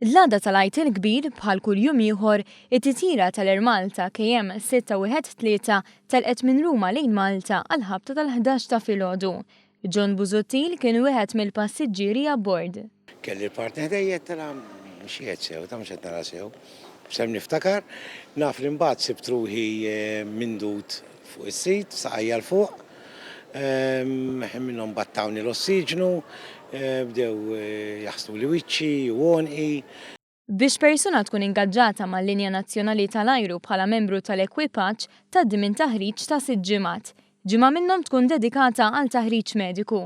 L-għada tal-Għid il-Kbir, bħal kull jum ieħor, it-titjira tal-Air Malta KM 613 telqet minn Ruma lejn Malta għall-ħabta tal-ħdax ta' filgħodu. John Busuttil kien wieħed mill-passiġġieri abbord. Kelli l-partner ħdejja qed nara mhux qiegħed sew, ta' mhux qed nara sew. B'sehem niftakar, naf li mbagħad sibt ruħi mindud Fuq is-sit, saqajja 'l fuq, ħin minnhom battawni l-ossiġnu, bdew jaħsduli wiċċi u għonqi. Biex persuna tkun ingaġġata mal-Linja Nazzjonali tal-Ajru bħala membru tal-ekwipaġġ, tgħaddi minn taħriġ ta' sitt ġimgħat. Ġimgħa minnhom tkun dedikata għal taħriġ mediku.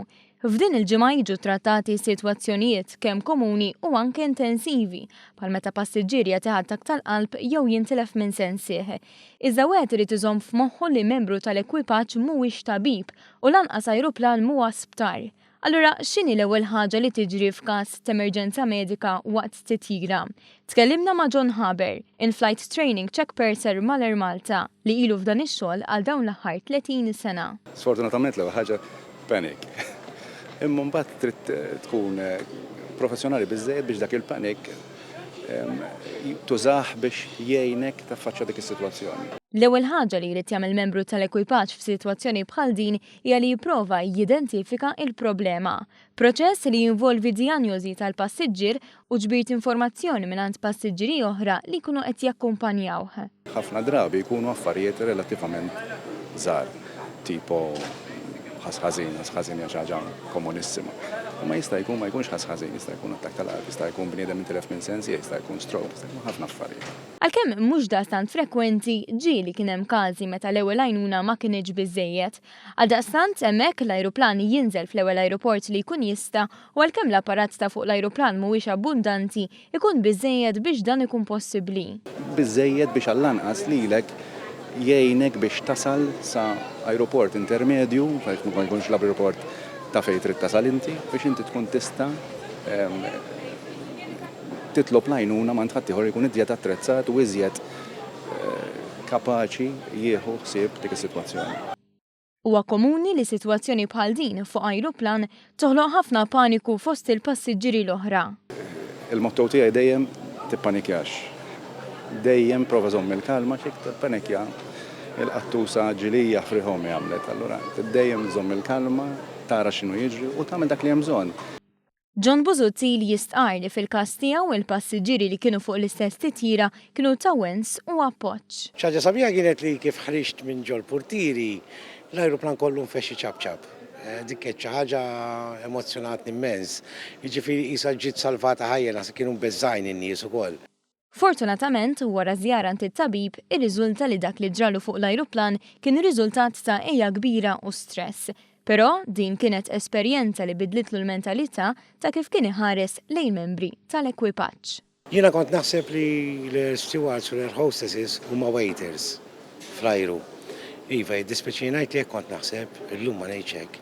F'din il-ġimgħa jiġu ttrattati sitwazzjonijiet kemm komuni u anke intensivi, bħal meta passiġġier jagħti ħaddaq tal-qalb jew jintilef minn sensih. Iżda wieħed irid iżomm f'moħħu li membru tal-ekwipaġġ mhuwiex tabib u lanqas ajruplan mhuwa sptar. Allura, x'inhi l-ewwel ħaġa li tiġri f'każ t'emerġenza medika waqt titjira? Tkellimna ma' John Haber, il-Flight Training Check Purser mal-Air Malta, li ilu f'dan ix-xogħol għal dawn l-aħħar 30 sena. Sfortunatament l-ewwel ħaġa panic. Imma mbagħad trid tkun professjonali biżżejjed biex dak il-panic tużah biex jgħinek taffaċċja dik is-sitwazzjoni. L-ewwel ħaġa li jrid jagħmel membru tal-ekwipaġġ f'sitwazzjoni bħal din hija li jipprova jidentifika l-problema. Proċess li jinvolvi dijanjożi tal-passiġġier u ġbir t'informazzjoni mingħand passiġġieri oħra li jkunu qed jakkumpanjawh. Ħafna drabi jkunu affarijiet relattivament żgħar, tipo ħass ħażin, ħass ħażin hija xi ħaġa komunissima. Imma jista' jkun ma jkunx ħass ħażin, jista' jkun attakk tal-qalb, jista' jkun bniedem intilef minn sens ieħ, jista' jkun stroke, jista' jkun ħafna affarijiet. Għalkemm mhux daqstant frekwenti, ġieli kien hemm każi meta l-ewwel għajnuna ma kinitx biżżejjed. Għaldaqstant, hemmhekk, l-ajruplan jinżel fl-ewwel ajruport li jkun jista' u għalkemm l-apparat ta' fuq l-ajruplan mhuwiex abbundanti, ikun biżżejjed biex dan ikun possibbli. Biżżejjed biex għall-anqas lilek jgħinek biex tasal sa ajruport intermedju, għaliex ma jkunx l-ajruport ta' fejn trid tasal inti, biex inti tkun tista' titlob l-għajnuna m'għand ħaddieħor li jkun iżjed attrezzat u iżjed kapaċi jieħu ħsieb dik is-sitwazzjoni. Huwa komuni li sitwazzjoni bħal din fuq ajruplan toħloq ħafna paniku fost il-passiġġieri l-oħra. Il-motto tiegħi dejjem tippanikjax. Dejjem prova żomm il-kalma għax jekk tippanikja il-qattusa ġilija ħfrihom hi għamlet. Allura dejjem żomm il-kalma, tara x'inhu jiġri u tagħmel dak li hemm bżonn. John Busuttil jistqarr li fil-każ tiegħu il-passiġġieri li kienu fuq l-istess titjira kienu ta' wens u appoġġ. Xi ħaġa sabiħa kienet li kif ħriġt minn ġol-purtieri, l-ajruplan kollu nfexx iċapċap. Dik kienet xi ħaġa emozzjonatni mmens. Jiġifieri qisha ġiet salvata ħajja, naħseb kienu mbeżżgħin in-nies ukoll. Fortunatament, wara żjara għand it-tabib, irriżulta li dak li ġralu fuq l-ajruplan kien riżultat ta' għeja kbira u stress. Però, din kienet esperjenza li bidlitlu l-mentalità ta' kif kien iħares lejn membri tal-ekwipaġġ. Jiena kont naħseb li l-air stewards u l-air hostesses huma waiters fl-ajru. Iva, jiddispjaċini ngħid li hekk kont naħseb, illum ma ngħidx hekk.